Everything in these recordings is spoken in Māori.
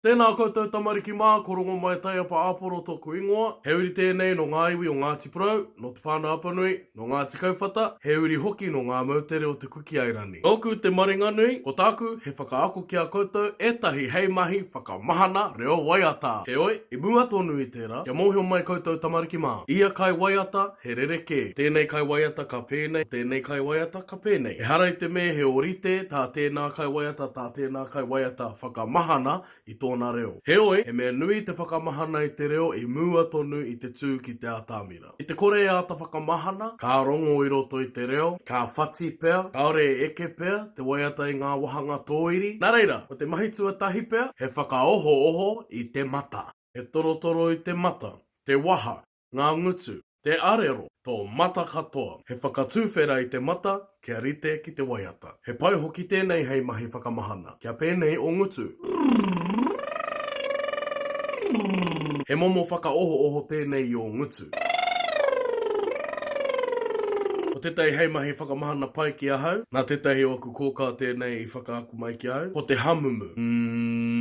Tēnā koutou tamariki mā, ko Rongomai Taiapa Āporo tōku ingoa. He uri tēnei nō ngā iwi o Ngāti Porou, nō Te Whānau Apanui, nō Ngāti Kauwhata, he uri hoki nō ngā moutere o Te Kukiairani. Nōku te maringanui, ko tāku he whakaako ki a koutou ētahi hei mahi whakamahana reo waiata. Heoi, i mua tonu i tērā, kia mōhio mai koutou tamariki mā, ia kai waiata, He rerekē, tēnei kaiwaiata ka pēnei, tēnei kaiwaiata ka pēnei. Ehara i te mea he ōrite tā tēnā kaiwaiata, tā tēnā kaiwaiata whakamahana i tōna reo. Heoi, he mea nui te whakamahana i te reo i mua tonu i te tū ki te atamira. Ki te kore e āta whakamahana, ka rongo i roto i te reo, ka whati pea, kāore e eke pea te waiata i ngā wāhanga tōiri. Nā reira, ko te mahi tuatahi pea, he whakaohooho i te mata. He torotoro i te mata, te waha, ngā ngutu, te arero, tō mata katoa. He whakatuwhera i te mata kia rite ki te waiata. He pai hoki tēnei hei mahi whakamahana. Kia pēnei o ngutu. He momo whakaohooho tēnei i ō ngutu. Ko tētahi hei mahi whakamahana pai ki ahau. Nā tētahi o aku kōkā tēnei i whakaako mai ki ahau. Ko te hamumu. Umm.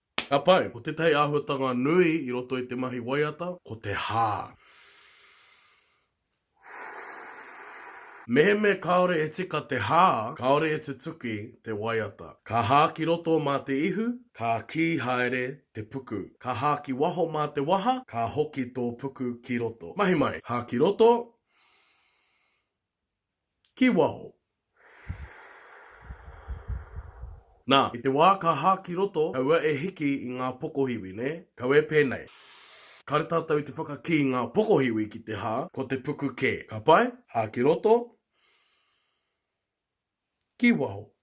Ka pai, ko tētahi āhuatanga nui i roto i te mahi waiata, ko te hā. Mehemea kāore e tika te hā, kāore e tutuki te waiata. Ka hā ki roto mā te ihu, ka kī haere te puku. Ka hā ki waho mā te waha, ka hoki tō puku ki roto. Mahi mai, hā ki roto. ki waho. Na, i te wā ka hā ki roto, kaua e hiki i ngā pokohiwi, nē? Kau e pēnei. Kāre tātou i te whakakī i ngā pokohiwi ki te hā, ko te puku kē. Ka pai? Hā ki roto, ki waho.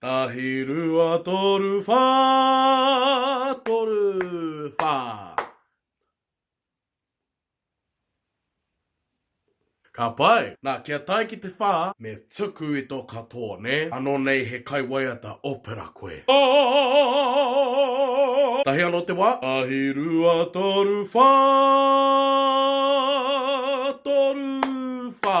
Tahi rua toru wha toru wha. Ka pai. Na, kia tae ki te wha, me tuku i to katoa, ne? Ano nei he kaiwaiata opera koe. Aaaaaaaaa! Tahi ano te wa. Tahi rua toru wha toru wha.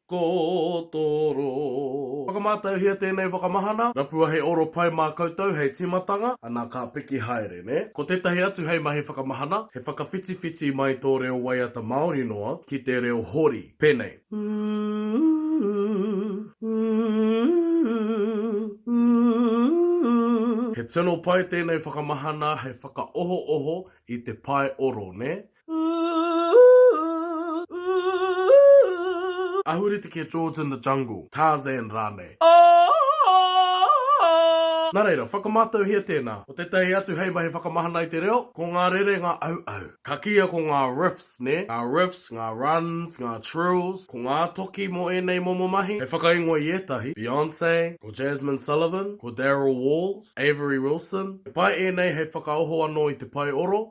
Kotoro. Whakamātauhia tēnei whakamahana. Rapua he oro pai mā koutou hei tīmatanga. Ana ka piki haere, nē? Ko tētahi atu hei mahi whakamahana, he whakawhitiwhiti mai tō reo waiata Māori noa ki te reo hori. Pēnei. He tino pai tēnei whakamahana hei whakaohooho i te pae oro, nē? Ooh, ooh. Ahurite ki a George in the Jungle, Tarzan rānei. Ooh. Nā reira, whakamātauhia tēnā. Ko tētahi atu hei mahi whakamahana i te reo, ko ngā rerenga auau. Ka kīia ko ngā riffs, nē? Ngā riffs, ngā runs, ngā trills, ko ngā toki mō ēnei momo mahi. Hei whakaingoa i ētahi, Beyonce, ko Jazmine Sullivan, ko Daryl Walls, Avery Wilson. He pai ēnei hei whakaoho anō i te pae oro.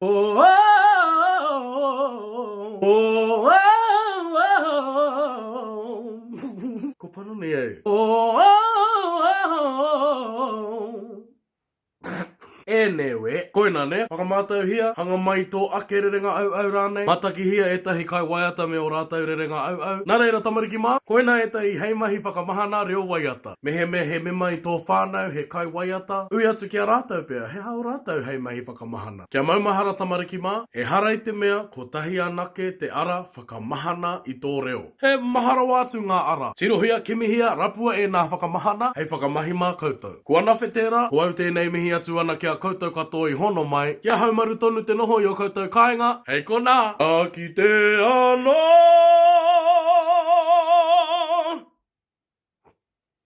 Oh, oh, oh, oh, Ko pono nei au. Oh, oh, oh. E newe, koina ne, whakamātauhia, hanga mai tō ake rerenga au au rānei, matakihia ētahi kai waiata me o rātau rerenga au au. Nā reira tamariki mā, koina ētahi hei mahi whakamahana reo waiata. Mehemea he mema i tō whānau he kai waiata, ui atu ki a rātau pea he hao rātau hei mahi whakamahana. ka mahana. Kia maumahara tamariki mā, ehara i te mea kotahi anake te ara whakamahana i tō reo. He maha rawa atu ngā ara. Tirohia, kimihia, rapua ēnā whakamahana hei whakamahi mā koutou. Kua nawhe tērā, ko au tēnei mihi atu ana ki a koutou katoa i hono mai, kia haumaru tonu te noho i ō koutou kāinga, hei konā! Ka kite anō!